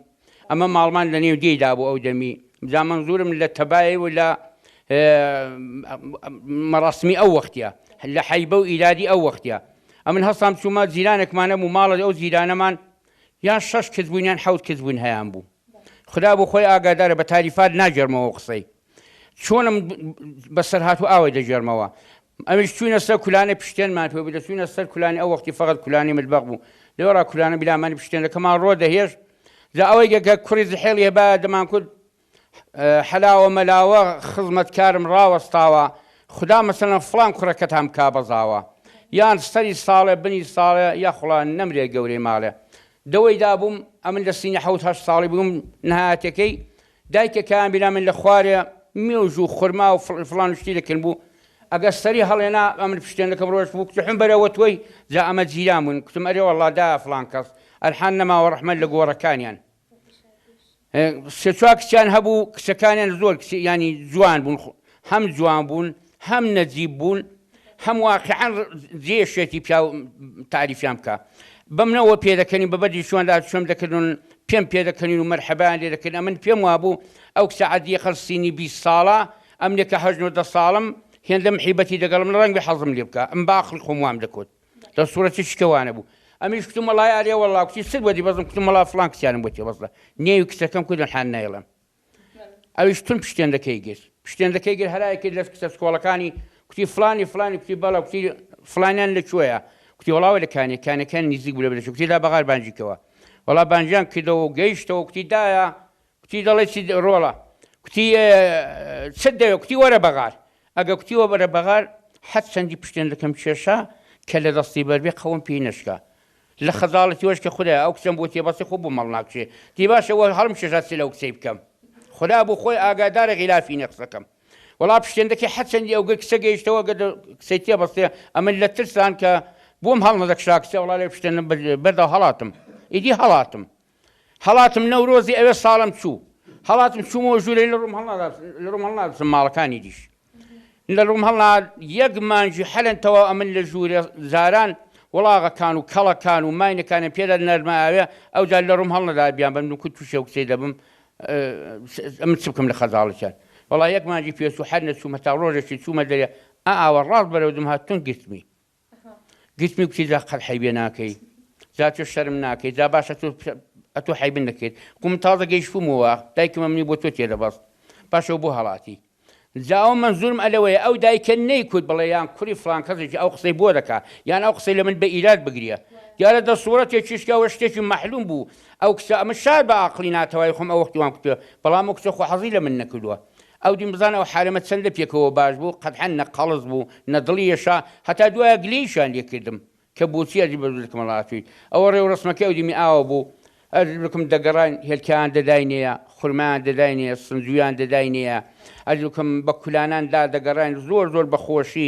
ئەمە ماڵمان لە نێو دێی دابوو ئەو دەمی جا مەنزورم لە تەبای و لە مەڕاسمی ئەو وەختە لە حەیبە و ئیرادی ئەو وەختە ئەمن هەستام چوومە جیرانێکمانە بوو ماڵە ئەو جیرانەمان یان شەش کچ بوون یان حەوت کچ بوون هەیان بوو خدا بۆ خۆی ئاگادارە بە تاریفات ناگەرمەوە قسەی چۆنم بەسەر هات و ئاوەی دەگێرمەوە. ئەویش چووینە سەر کولانەی پشتێنمان پێ بوو، دەچووینە سەر کولانی، ئەو وەختی فەقەت کولانی متبەخ بوو، لەوێڕا کولانە بیلامانی پشتێنەکەمان ڕۆ دەهێشت، جا ئەوەی گە گە کوڕی زحێڵی هەبایە دەمانکوت، حەلاوە مەلاوە خزمەتکارم ڕاوەستاوە، خودا مەسەلەن فڵان کوڕەکەتان بکا بە زاوا، یان سەری ساڵێ بنی ساڵێ، یاخوڵا نەمرێ گەورەی ماڵێ. دەوەی دابووم، ئەمن لە سنی حەوت هەشت ساڵی بووم، نهایەتەکەی دایکێ کە ئامبینا من لە خوارێ مێوژ و خورما و فڵ فڵان و شتی دەکرم بوو ئەگەر سەری هەڵێنا ئەمن پشتێنەکەم ڕۆشت بوو کتحم بەرەوە تۆی جا ئەمە جیران بوون کتم ئەرێ وەڵڵا دایە فڵان کەس ئەلحان نەماوە ڕەحمەت لە گۆڕەکانیان سێ چوار کچیان هەبوو کچەکانیان زۆر کچ یانی جوان بوون هەم جوان بوون هەم نەجیب بوون هەم واقعەن جێشێتی پیاو تاریفیان بکە بەم نەوە پێدەکەنی بە بەدی شوان لا شوم دەکردن پێم پێدەکەنین و مەرحەبان لێ دەکرد ئەمن پێم وابوو ئەو کسە عادیە قەل سینی بی ساڵە ئەم لێکە هەژن و دە ساڵم هێندەم حیبەتی دەگەڵم لە ڕەنگ بە حەزم لێ بکە ئەم باخڵ خۆم وام دەکوت لە سوورەتی شکەوانە بوو ئەمیش کتم وڵای ئارێ وەڵا کچی سر بەدی بەزم کتم وڵا فڵان کسیانم بۆ تێ بەزە نێوی کچەکەم کودن حان نایڵم ئەویش تون پشتێندەکەی گرت پشتێندەکەی گر هەرای کرد لە کچە سکۆڵەکانی کوتی فلانی فلانی کوتی بەڵە کوتی فلانیان لە کوێیە کوتی وڵاوە لە کانێ کانەکان نزیک بوو لە بلەش کوتی لا بەغار بانجیکەوە وڵا بانجیان کردەوە و گەیشتەوە کوتی دایە کوتی دەڵێ چی ڕۆڵە کوتی چ دەوێ کوتی وەرە بەغار ئەگە کوتی وە بەرە بەغار حەد چەندی پشتێندەکەم کێشا کە لە دەستی بەربێ قەوم پێی نەشکا لە خەزاڵە تۆش کە خودایە ئەو کچەم بۆ تێ بەسێ خۆ بۆ مەڵ ناکشێ تی باشە وە هەڵم کێشا چ لەو کچەی بکەم خودا بۆ خۆی ئاگادارە غیلافی نیە قسەکەم وەڵا پشتێن دەکەی هەر چەندی ئەو گەر کچە گەیشتەوە گەر کچەی تێ بەستێ ئەمن لە ترسان کە بۆم هەڵ نەدەکشا کچە وەڵا لەوێ پشتێن بەردا هەڵاتم ئیدی هەڵاتم هەڵاتم نەورۆزی ئەوێ ساڵم چوو هەڵاتم چوومەوە ژوورەی لە ڕووم هەڵنادات لە ڕووم هەڵنادسم ماڵەکانی دیش لە ڕووم هەڵناد یەک مانجی حەلەن تەواو ئەمن لە ژوورێ زاران وڵاغەکان و کەڵەکان و ماینەکانم پێدا نەرمە ئاوێ ئەوجا لە ڕووم هەڵنەدا بیان بەم نوکت تووشێ و کچەی دەبم ئەمن چ بکەم لە خەزاڵەکیان وەڵا یەک مانجی پێچوو حەر نەچووم هەتا ڕۆژێکی چوومە دەرێ ئا ئاوە ڕاست بەرەو دم هات تون گرتمی گوتمی گوتی جا قەت حەیبێ ناکەی جا تۆ شەرم ناکەی جا باشە تۆ ئەتۆ حەیبن دەکەیت کو من تازە گەیشتوومەوە دایکمە منی بۆ تۆ تێ دەبەست باشەوە بۆ هەڵاتی جا ئەو مەنزورم ئەلەوەیە ئەو دایکە نەیکوت بڵێ یان کوری فڵان کەسێکی ئەو قسەی بۆ دەکا یان ئەو قسەی لە من بە ئیراد بگریە دیارە دە سوڕەتێکیش کە ئەوە شتێکی مەحلوم بوو ئەو کچە ئەمە شار بە ئاقڵی ناتەوای خۆم ئەو وەختی وام کوتوە بەڵام ئەو کچە خۆ حەزی لە من نەکردووە ئەودین بزانە ئەو حارەمە چەند لە پێکەوە باش بوو، قەدحەن نە قەڵس بوو، نە دڵی ئێشا، هەتا دوایە گلەیشیان لێ کردم، کە بۆچی ئەزی بە زوو لە کمەڵ هاتوویت، ئەوە ڕێ و ڕەسمەکەی ئەودیمی ئاوا بوو، ئەزیز بکم دەگەڕاین هێلکەیان دەداینێە، خورمایان دەداینێە، سنجوویان دەداینێە، ئەزیز بکم بە کولانان دا دەگەڕاین، زۆر زۆر بە خۆشی.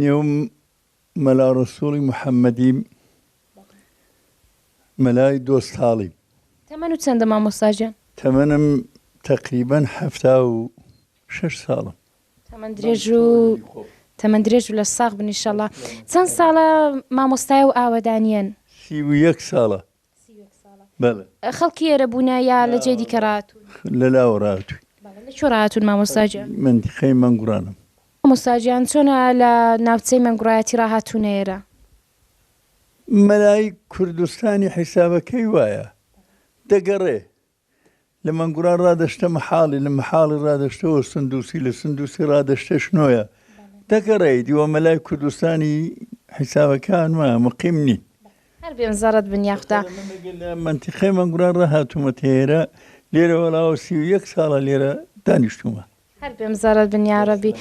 نێو مەلا ڕەسووڵی محەممەدی مەلای دۆستاڵی. تەمەنت چەندە مامۆستا گیان؟ تەمەنم تەقریبەن حەفتا و شەش ساڵە. تەمەن درێژ و تەمەن درێژ و لەش ساغ بن ئیشەڵا. چەند ساڵە مامۆستایە و ئاوەدانیەن؟ سی و یەک ساڵە. بەڵێ. خەڵکی ئێرە بوونە یا لە جێی دیکە ڕاتوون؟ لە لاوە ڕاتووین. بەڵێ لە کوێ ڕاتوون مامۆستا گیان؟ مەنتیقەی مەنگوڕانم. مامۆستا گیان چۆنە لە ناوچەی مەنگوڕایەتی ڕاهاتوونە ئێرە؟ مەلای کوردستانی حیسابەکەی وایە دەگەڕێ. لە مەنگوڕا ڕا دەشتە مەحاڵی، لە مەحاڵی ڕا دەشتەوە سندووسی، لە سندووسی ڕا دەشتە شنۆیە. دەگەڕێی، دیوە مەلای کوردستانی حیسابەکان ما، مقیم نین. هەر بێن زەڕەد بن یاخدا. خەرە من ئەگەر لە مەنتیقەی مەنگوڕا ڕا هاتوومە تەیەرە، لێرە وەڵاوە سی و یەک ساڵە لێرە دانیشتوومە. هەر بێم زەڕەر بن یاڕەبی.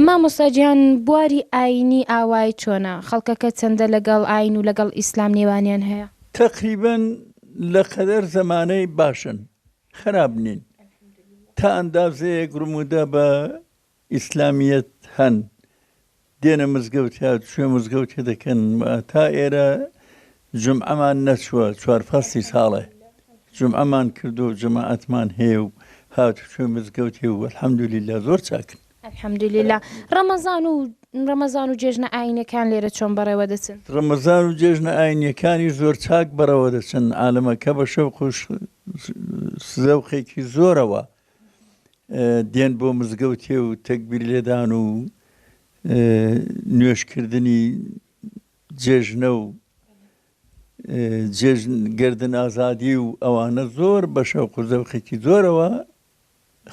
مامۆستا گیان بواری ئاینی ئاوای چۆنە؟ خەڵکەکە چەندە لەگەڵ ئاین و لەگەڵ ئیسلام نێوانیان هەیە؟ تەقریبەن لەقەدەر زەمانەی باشن خەراپ نین تا ئەندازەیەک رموودە بە ئیسلامیەت هەن. دێنە مزگەوت یا کوێ مزگەوتێ دەکەن تا ئێرە جمعەمان نەچووە چوار فەستی ساڵێ جمعەمان کردو جەماعەتمان هەیە و هات کوێ مزگەوت هێ و الحەمدلیلا زۆر چاکن الحەمدلیلا ڕەمەزان و ڕەمەزان و جێژنە ئاینەکان لێرە چۆن بەڕێوە دەچن ڕەمەزان و جێژنە ئاینیەکانی زۆر چاک بەڕەوە دەچن عالەمەکە بە شەو خۆش سزەوقێکی زۆرەوە دێن بۆ مزگەوتێ و تەگبیر لێدان و نوێشکردنی جێژنە و جێژن گردن ئازادی و ئەوانە زۆر بە شەوق و زەوقێکی زۆرەوە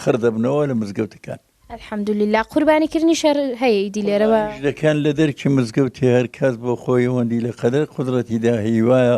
خڕدەبنەوە لە مزگەوتەکان الحەمدللا قوربانی کردنی شەر هەیە ئیدی لێرەوە دەکەن لە دەرکی مزگەوتی هەر کەس بۆ خۆی ئەوەندی لە قەدەر قدرەتیدا هیوایە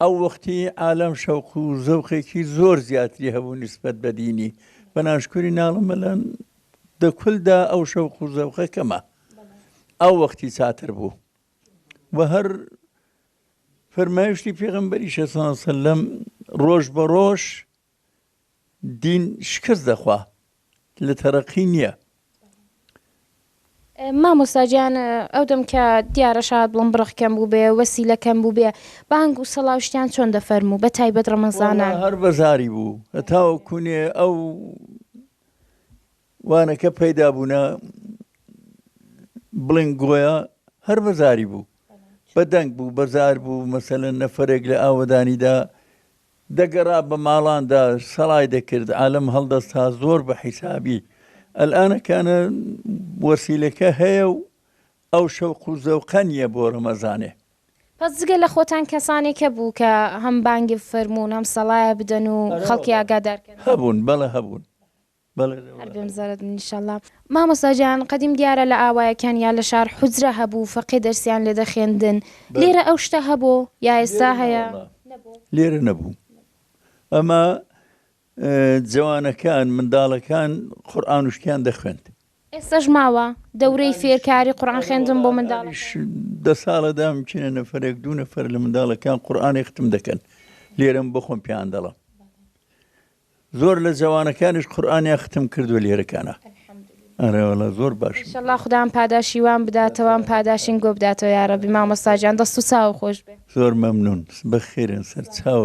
ئەو وەختی عالەم شەوق و زەوقێکی زۆر زیاتری هەبوو نیسبەت بە دینی بە ناشکوری ناڵم مەلان دەکولدا ئەو شەوق و زەوقە کەمە ئەو وەختی چاتر بوو و هەر فەرمایشتی پێغمبەری شەسان سلم ڕۆژ بە ڕۆژ دین شکست دەخوا لە تەرەقی نیە. مامۆستا گیان ئەو دەم کە دیارە شاد بووم بڕەق کەم بووبێ وەسیلە کەم بووبێ بانگ و سەڵا و شتیان چۆن دەفەرموو بە تایبەت ڕەمەزانان. وەڵا هەر بە زاری بوو هەتاوە کوونێ ئەو وانەکە پەیدا بوونە بڵێن گۆیا هەر بە زاری بوو بە دەنگ بوو بە زار بوو مەسەلەن نەفەرێک لە ئاوەدانیدا دەگەرا بە ماڵاندا سەرای دەکرد عالم هەڵدەستا زۆر بە حیسابی ئەلئانە کانە وەسیلەکە هەیە و ئەو شەوق و زەوقە نیە بۆ رەمەزانێ. پس جگە لە خۆتان کەسانێک هەبوو کە هەم بانگی بفەرموون هەم سەڵایە بدەن و خەڵکی ئاگادار کەن؟ هەبوون بەڵێ هەبوون بەڵێ لە هەر بێم زەرەد من ئیشەڵا. مامۆستا گیان قەدیم دیارە لە ئاوایەکان یا لە شار حوجرە هەبوو فەقێ دەرسیان لێ دەخێندن لێرە ئەو شتە هەبۆ یا ئێستا هەیە؟ لێرە نەبوو ئەما جەوانەکان منداڵەکان قورئان و شتیان دەخوێند. ئێستاش ماوە دەورەی فێرکاری قورئان خوێندن بۆ منداڵ؟ دە ساڵە دام چینە نەفەرێک دوو نەفەر لە منداڵەکان قورئانی ختم دەکەن لێرەم بۆ خۆم پێیان دەڵم زۆر لە جەوانەکانیش قورئانیان ختم کردوە لێرەکانا ئەرێ وەڵا زۆر باشن. ئیشەڵا خودام پاداشی وام بداتەوە ام پاداشیم گۆ بداتەوە یارەبی مامۆستا گیان دەست و چاو خۆش بێ. زۆر مەمنون بەخێرێن سەر چاو.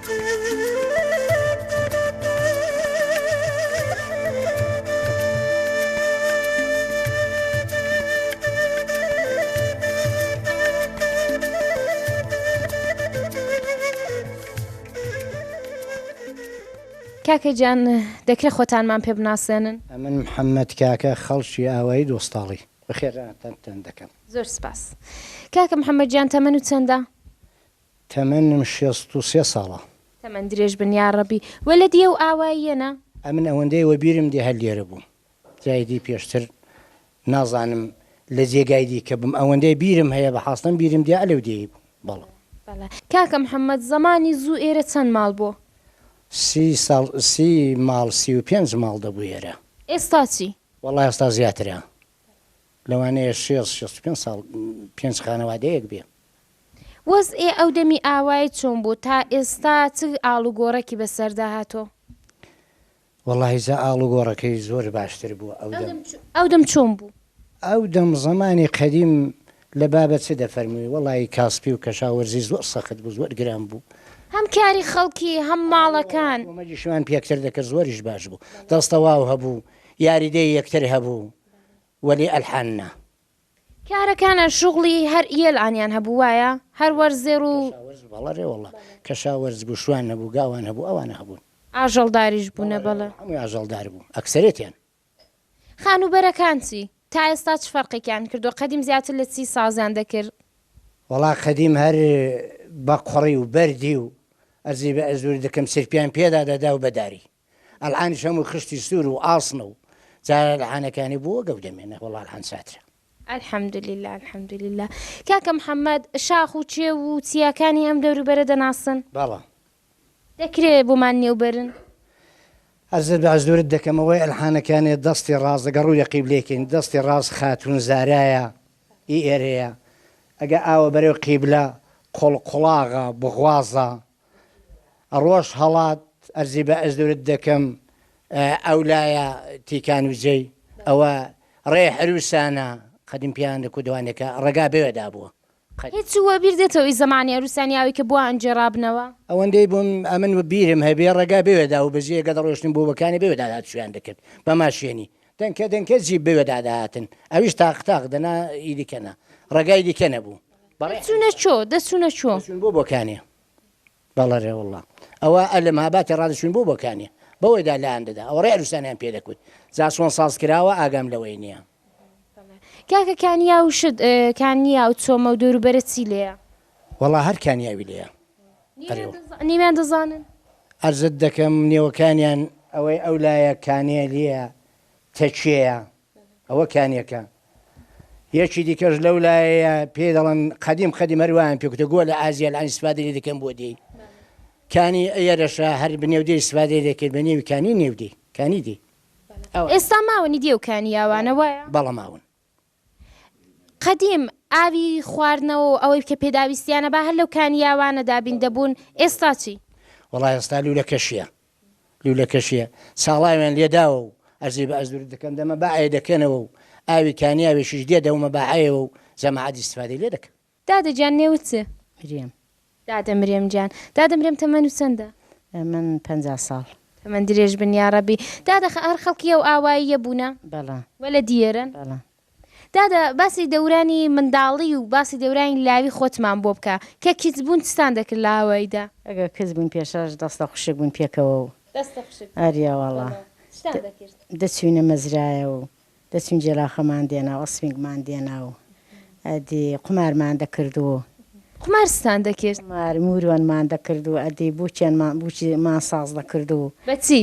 کاکە گیان دەکرێ خۆتانمان پێ بناسێنن؟ ئەمن محەمەد کاکە خەڵکی ئاوایی دۆستاڵی. بەخێراتنتان دەکەم. زۆر سپاس. کاکە محەمەد گیان تەمەنت چەندە؟ تەمەنم شێست و سێ ساڵە. تەمەن درێژ بن یاڕەبی. وە لە دیە و ئاواییە نا. ئەمن ئەوەندەی وەبیرم دێ هەر لێرە بووم جای دی پێشتر نازانم لە جێگای دیکە بم ئەوەندەی بیرم هەیە بە حاستەم بیرم دێ ئەلەو دێی بووم بەڵێ. بەڵێ کاکە محمد زەمانی زوو ئێرە چەند ماڵ بۆ؟ سی ساڵ سی ماڵ سی و پێنج ماڵ دەبوو ئێرە. ئێستا چی؟ وەڵا ئێستا زیاترە لەوانەیە شێست شێست و پێنج ساڵ پێنج خانەوادەیەک بێ. وەز ئێ ئەو دەمی ئاوای چۆن بوو تا ئێستا چ ئاڵ و گۆڕەکی بە سەردا هاتۆ؟ وەڵاهی جا ئاڵ و گۆڕەکەی زۆر باشتر بوو ئەو دەم. ئەو دەم چۆن بوو؟ ئەو دەم زەمانی قەدیم لە بابە چ دەفەرمووی وەڵاهی کاسپی و کەشاوەرزی زۆر سەخت بوو زۆر گران بوو. هەم کاری خەڵکی هەم ماڵەکان. ئەوە کۆمەگیشمان پێکتر دەکرد زۆریش باش بوو دەستەواو هەبوو یاریدەی یەکتر هەبوو وەلی ئەلحان نا. کارەکانە شوغڵی هەر یێل عانیان هەبوو وایە هەر وەرز زێڕ و. کەشاوەرز بەڵە رێ وەڵا کەشاوەرز گوشوان هەبوو گاوان هەبوو ئەوانە هەبوون. ئاژەڵ داریش بوونە بەڵە رێ وەڵا هەمووی ئاژەڵ دار بوو ئەکسەرێتیان. خانووبەرەکان چی تا ئێستا چ فەرقێکیان کردووە قەدیم زیاتر لە چی سازیان دەکرد. وەڵا قەدیم هەر بە قوڕی و بەردی و ئەزی بە ئەزوور دکم سرپیان پێدا دەدا و بە داری. ئەلعانیش هەموو خشتی سوور و ئاسنە و جارە ئەلعانەکانی بۆ وەگەو دەمێنێ وەڵا ئەلعان چاترە. الحمدللە الحمدللە کاکە محمد شاخ و کێو و چیاکانی ئەم دەوروبەرە دەناسن؟ بەڵێ. دەکرێ بۆمان نێو بەرن؟ عەرزت بە حزورت دەکەم ئەوەی ئەلحانەکانێ دەستی ڕاست دەگە ڕوی لە قیبلەی کەین دەستی ڕاست خاتون زارایە ئی ئێرەیە ئەگە ئاوە بەرەو قیبلە قۆڵ قوڵاغە بغوازە ڕۆژ هەڵات ئەرزی بە ئەزورت دەکەم ئەو لایە تیکان و جەی ئەوە ڕێ حروسانە قەدیم پیان دە کودوانێکە ڕێگا بێوێ دابووە قەد. هیچ وە بیر دێتەوە ی زەمانی ئەروسان یاوی کە بووە ئەنجێ ڕابنەوە؟ ئەوەندەی بووم ئەمن وە بیرم هەبێ ڕێگا بێوێ دا و بە جێ گە دەڕۆشتن بۆ وە کانێ بێوێ دا هاتوچۆیان دەکرد بە ماشێنی دەنکە دەنکە جیب بێوێ دا دەهاتن ئەویش تاق تاق دەنا ی دیکە نا ڕێگای دیکە نەبوو. دەچونە چۆ دەچونە چۆ. دەچون بۆ بۆکانێ بەڵەرێ واللە ئەوە ئە لە مهاباتێ ڕا دەچون بۆ بۆکانێ بەوەیدا لایان دەدا ئەوە ڕێ عروسانیان پێ دەکوت جا چۆن ساز کراوە ئاگام لەوەی نیە. کاکە کانیا و شت کانیا و چۆمە و دەوروبەرە چی لێیە؟ وەڵا هەر کانیاوی لێیە ئەرێ وەڵا. نیویان دەزانن؟ عەرزت دەکەم نێوەکانیان ئەوەی ئەو لایە کانێ لێیە تەکێیە ئەوە کانیەکە یەکی دیکەش لەو لایەیە پێ دەڵن قەدیم قەدیم هەروان پێکوتە گۆ لە ئازیە لە ئەنیسپادری دەکەم بۆ دێی کانی ئەرەشە هەر بنێودەی سوادێ دەکرد بە نێوی کانی نێودەی کانی دی ئێستا ماونی دێوکانی یاوانە وایە بەڵە ماون قەدیم ئاوی خواردنەوە و ئەوەی کە پێداویستیانە با هەر لەو کانیاوانە دابین دەبوون ئێستا چی وڵای ئێستا لوولەکەشیە لوولەکەشییە ساڵاویان لێ داوە و ئەرزی بە ئەزدرو دەکەن، دەمە با ەیە دەکەنەوە و ئاوی کانیاوێشیش دێ دەومە با ەیەوە و جەماعەت ئیستفادەی لێ دەکەن. دادە گیان نێوت چ؟ مرێم. دادە مرێم گیان. دادە مرێم تەمەنت چەندە؟ من پەنجا ساڵ. تەمەن درێژ بن یاڕەبی. دادە هەر خەڵکی ئەو ئاواییە بوونە؟ بەڵێ. وە لە دیێرن؟ بەڵێ. دادە باسی دەورانی منداڵی و باسی دەورانی لاوی خۆتمان بۆ بکە کە کچ بوون چتان دەکرد لە هاوایدا. ئەگەر کچ بووین پێشەش دەستە خوشک بووین پێکەوە و دەستە خوشک بووین ئەرێ وەڵا بەڵێ چتان دەکرد. دەچووینە مەزرایە و دەچووین جێلاوخەمان دێنا و ئەسپینگمان دێنا و ئەدی قومارمان دەکرد و. قومار چتان دەکرد؟ قومار مورۆنمان دەکرد و ئەدی بووکێنمان بووکیمان ساز دەکرد و. بە چی؟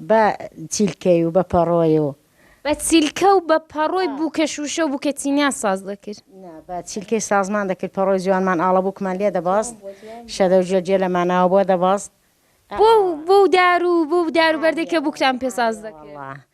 بە چیلکەی و بە پەڕۆی و. بە چیلکە و بە پەڕۆی بووکە شووشە و بووکە چینیان ساز دەکرد. نا، بە چیلکەی سازمان دەکرد، پەڕۆی جوانمان ئاڵەبووکمان لێ دەبەست، شەدە و جوێت جوێت لە ماناوە بۆ دەبەست. بەو بەو دار و بەو دار و بەردەی کە بووکتان پێ ساز دەکرد. ئەرێ وەڵڵا!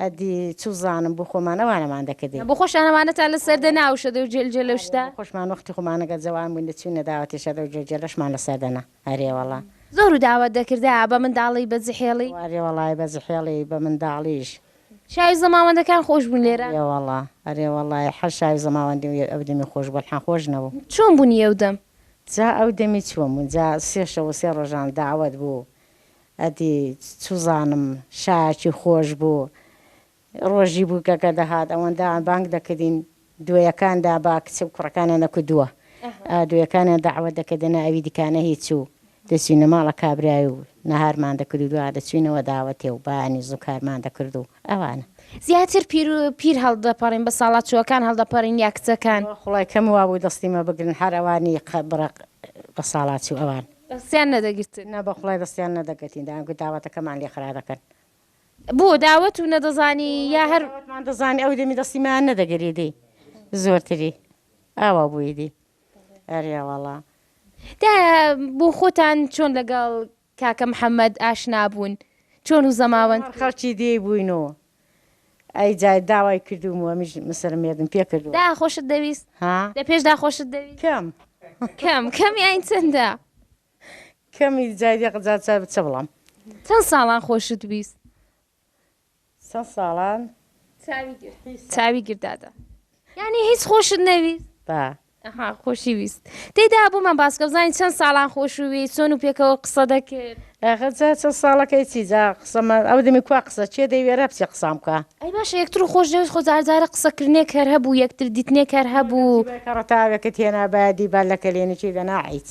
ئەدی چوزانم بۆ خۆمان ئەوانەمان دەکردین. بۆ خۆشتان ئەمانەتان لە سەر دەنا ئەو شەدە و جوێل جوێلە و شتە؟ ئەرێ بۆ خۆشمان وەختی خۆمانەگەر جەوان بووین دەچووینە داوەتی شەدە و جوێت جوێلەشمان لە سەر دەنا. ئەرێ وەڵا. زۆر و داوەت دەکردە بە منداڵی بە زحێڵی. ئەرێ وەڵای بە زحێڵی بە منداڵیش. شاوی زەماوەندەکان خۆش بوون لێرە. ئەرێ وەڵا ئەرێ وەڵای هەر شاوی زەماوەندی ئەو دەمی خۆش بوو ئەلحان خۆش نەبوو. چۆن بوونی ئەو دەم. جا ئەو دەمی چۆن بوون جا سێ شەو و سێ ڕۆژان داوەت بوو ئەدی چوزانم شایەکی خۆش بوو ڕۆژی بوو گەگە دەهات ئەوەندە بانگ دەکردین دوێەکان دابا کچ و کوڕەکانیان دەکوتووە دوێەکانیان دەعوەت دەکردنە ئەوی دیکانە هیچ و دەچوینە ماڵە کابرای و نەهارمان دەکرد و دوا دەچوینەوە داوەتێ و بەیانی زوو کارمان دەکرد و ئەوانە. زیاتر پیر و پیر هەڵدەپەڕین بە ساڵا چووەکان هەڵدەپەڕین یا کچەکان؟ خوڵای کەم وابوو دەستی مە بگرن هەر ئەوانی قە بڕە بەساڵاچوو ئەوان. دەستیان نەدەگرتن؟ نە بەخوڵای دەستیان نەدەگرتین دەیانگوت داوەتەکەمان لێ خرا دەکەن بۆ داوەت و نەدەزانی یا هەر وتمان دەزانی ئەو دەمی دەستی مایان نەدەگەری دی زۆرتری ئاوا بووی دی ئەریاواڵا دا بۆ خۆتان چۆن لەگەڵ کاکە محەممەد ئاشنا بوون چۆن و زەماوەند خەڵکی دی بووینەوە ئەی جای داوای کردومەوە میش مسەر مێردم پێ کردو دا خۆشت دەویست ها لە پێشدا خۆشت دەویست کەم کەم کەم یاین چەندە کەمی جای دێ قجا چا بچە بڵام. چەند ساڵان خۆشت ویست؟ چەند ساڵان چاوی گرت دادە. یعنی هیچ خۆشت نەویست؟ با. ئەها خۆشی ویست تێدا بۆمان باسکە بزانین چەند ساڵان خۆشووی چۆن و پێکەوە قسە دەکرد ئەخە جا چەند ساڵەکەی چی جا قسەمە ئەو دەمی کوا قسە چێ دەیوێرە بچێ قسام بکە ئەی باشە یەکتر و خۆش دەوێت خۆ جارجارە قسەکردنێک هەر هەبوو یەکتر دیتنێک هەر هەبوو کە ڕتاوێکت هێنا بادی با لە کەلێنێکی دەنا عیچ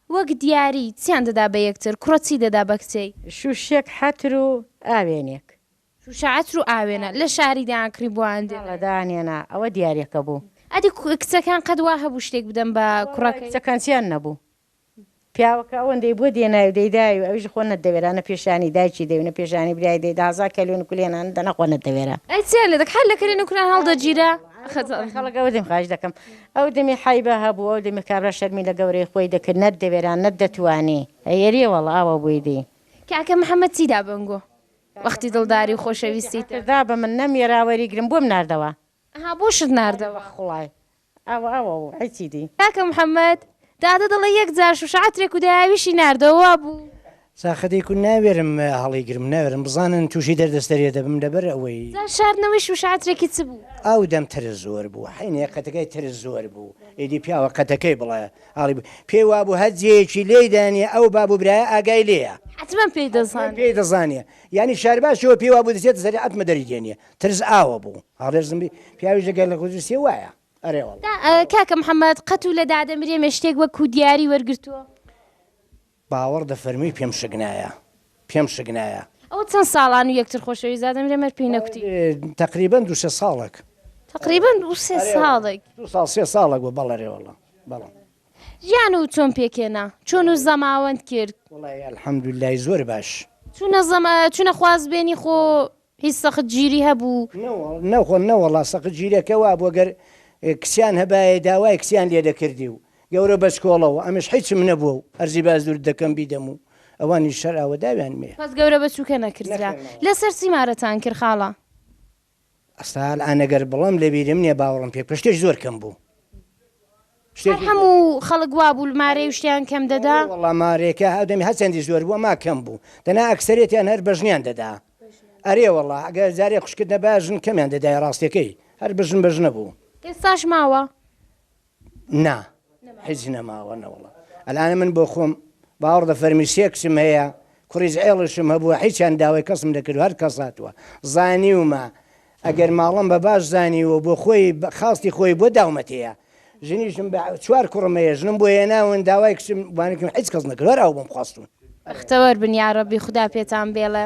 وەک دیاری، چیان دەدا بە یەکتر؟ کوڕە چی دەدا بە کچێی؟ شووشەک حەتر و ئاوێنێک. شووشە عەتر و ئاوێنە. لە شاری دەیانکڕی بۆیان دێنا. بەڵێ دەیانهێنا. ئەوە دیارییەکە بوو. ئەدی کچەکان قەت وا هەبوو شتێک بدەن بە کوڕەکەی؟ کچەکان چیان نەبوو. پیاوەکە ئەوەندەی بۆ دێنای و دەیدای و ئەویش خۆ نەتدەوێرا، نە پێشانی دایکی دەی و نە پێشانی برای دەی، دە هەزار کەلێن و کولێنان دەنا خۆ نەتدەوێرا. ئەی چیان لێ دەکرد؟ هەر لە کەلێن و کولێن هەڵدەگیرا. ئەو دەمی حەیبە هەبوو ئەو دەمی کابرا شەرمی لە گەورەی خۆی دەکرد نەت دەوێرا نەت دەتوانی ئەیەریە وەڵا ئاوا بووی دی. کاکە محمد چی دا بەم گو وەختی دڵداری و خۆشەویستیتە. دا بە من نەم یەرا وەری گرم بۆم ناردەوە. ئەها بۆشت ناردەوە. خوڵای ئاوا ئاوا بوو حیچی دی. کاکە محمد دادە دەڵێ یەک جار شوشە عەترێک و دایاویشی ناردەوە وابوو. ساخە دەیکو ناوێرم هەڵیگرم ناوێرم بزانن توشی دەردەستەریە دەبم لەبەر ئەوەی. جا شاردنەوەی شوشە عەترێکی چ بوو؟ ئاو دەم ترس زۆر بوو حەینێ قەتەکەی ترس زۆر بوو ئیدی پیاوە قەتەکەی بڵێ ئاڵی بوو پێی وابوو هەر جێیەکی لێی دانیە ئەو باب و برایە ئاگای لێیە حەتمەن پێی دەزانێ پێی دەزانێ یانی شارباشیەوە پێی وابوو دەچێتە سەری حەتمە دەری دێنیە ترس ئاوە بوو هەڵێرزم بی پیاویش دەگەر لە خۆ ترسیە وایە ئەرێ وەڵا. کاکە محمد قەت و لە دادە مریەمێ شتێک وەکوو دیاری وەرگرتووە؟ باوەڕ دەفەرمووی پێم شک نایە پێم شک نایە. ئەوە چەند ساڵان و یەکتر خۆشەویست دادەم لێ مەر پێی نەکوتی. تەقریبەن دوو سێ ساڵەک. تەقریبەن دوو سێ ساڵەک. دوو ساڵ سێ ساڵەک بوو بەڵێ رێ وەڵا بەڵێ. ژیان و چۆن پێکهێنا چۆن و زەماوەند کرد. وەڵای الحمدللە ی زۆر باش. چونە زەما چونە خواز بێنی خۆ هیچ سەخت گیری هەبوو؟ نەوەڵا نەوەڵا سەخت گیرەکە وابوو گەر کچیان هەبایە داوای کچیان لێ دەکردی و گەورە بەچکۆڵە و ئەمنیش حیچم نەبووە و ئەرزی بازدوورت دەکەم بیدەم و ئەوانیش شەر ئاوە داویان مێ. پس گەورە بەچووکە نەکردرا. لەسەر چی مارەتان کرد خاڵە؟ ئەستا ئەلئان گەر بڵێم لەبیرم نیە باوەڕم پێ بکە شتێش زۆر کەم بوو. هەر هەموو خەڵک وا بوو مارەی وشتیان کەم دەدا؟ وەڵا مارەکە هەردەمی هەرچەندی زۆر بوو ئەما کەم بوو دەنا ئەکسەرێتیان هەر بەژنیان دەدا ئەرێ وەڵا گەر جارێ خوشکت نەبایە ژن کەمیان دەدایە ڕاستەکەی هەر بژن بەژنە بوو. ئێستاش ماوە؟ نا هیچ نەماوە نەوەڵا ئەلئان من بۆ خۆم باوەڕ دە فەرمی سێ کچم هەیە کوڕیش عێڵشم هەبووە هیچیان داوای کەسم نەکردووە هەر کەس هاتووە زانیومە ئەگەر ماڵم بە باش زانی و بۆ خۆی بە خواستی خۆی بۆ داومەتێیە. ژنیشم بە چوار کوڕم هەیە ژنم بۆ هێناون داوای کچم بانکم حیچ کەس نەکرد هەر ئەو بۆم خواستون. بەختەوەر بن یاڕەبی خودا پێتان بێڵێ.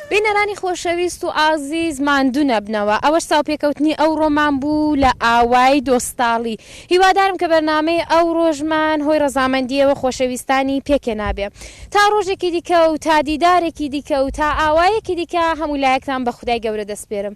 بینەرانی خۆشەویست و ئازیز ماندوو نەبنەوە، ئەوەش چاوپێکەوتنی ئەوڕۆمان بوو لە ئاوای دۆستاڵی. هیوادارم کە بەرنامەی ئەوڕۆشمان هۆی ڕەزامەندیی و خۆشەویستانی پێکێنا بێ. تا ڕۆژێکی دیکە و تا دیدارێکی دیکە و تا ئاوایەکی دیکە هەموو لایەکتان بە خودای گەورە دەسپێرم.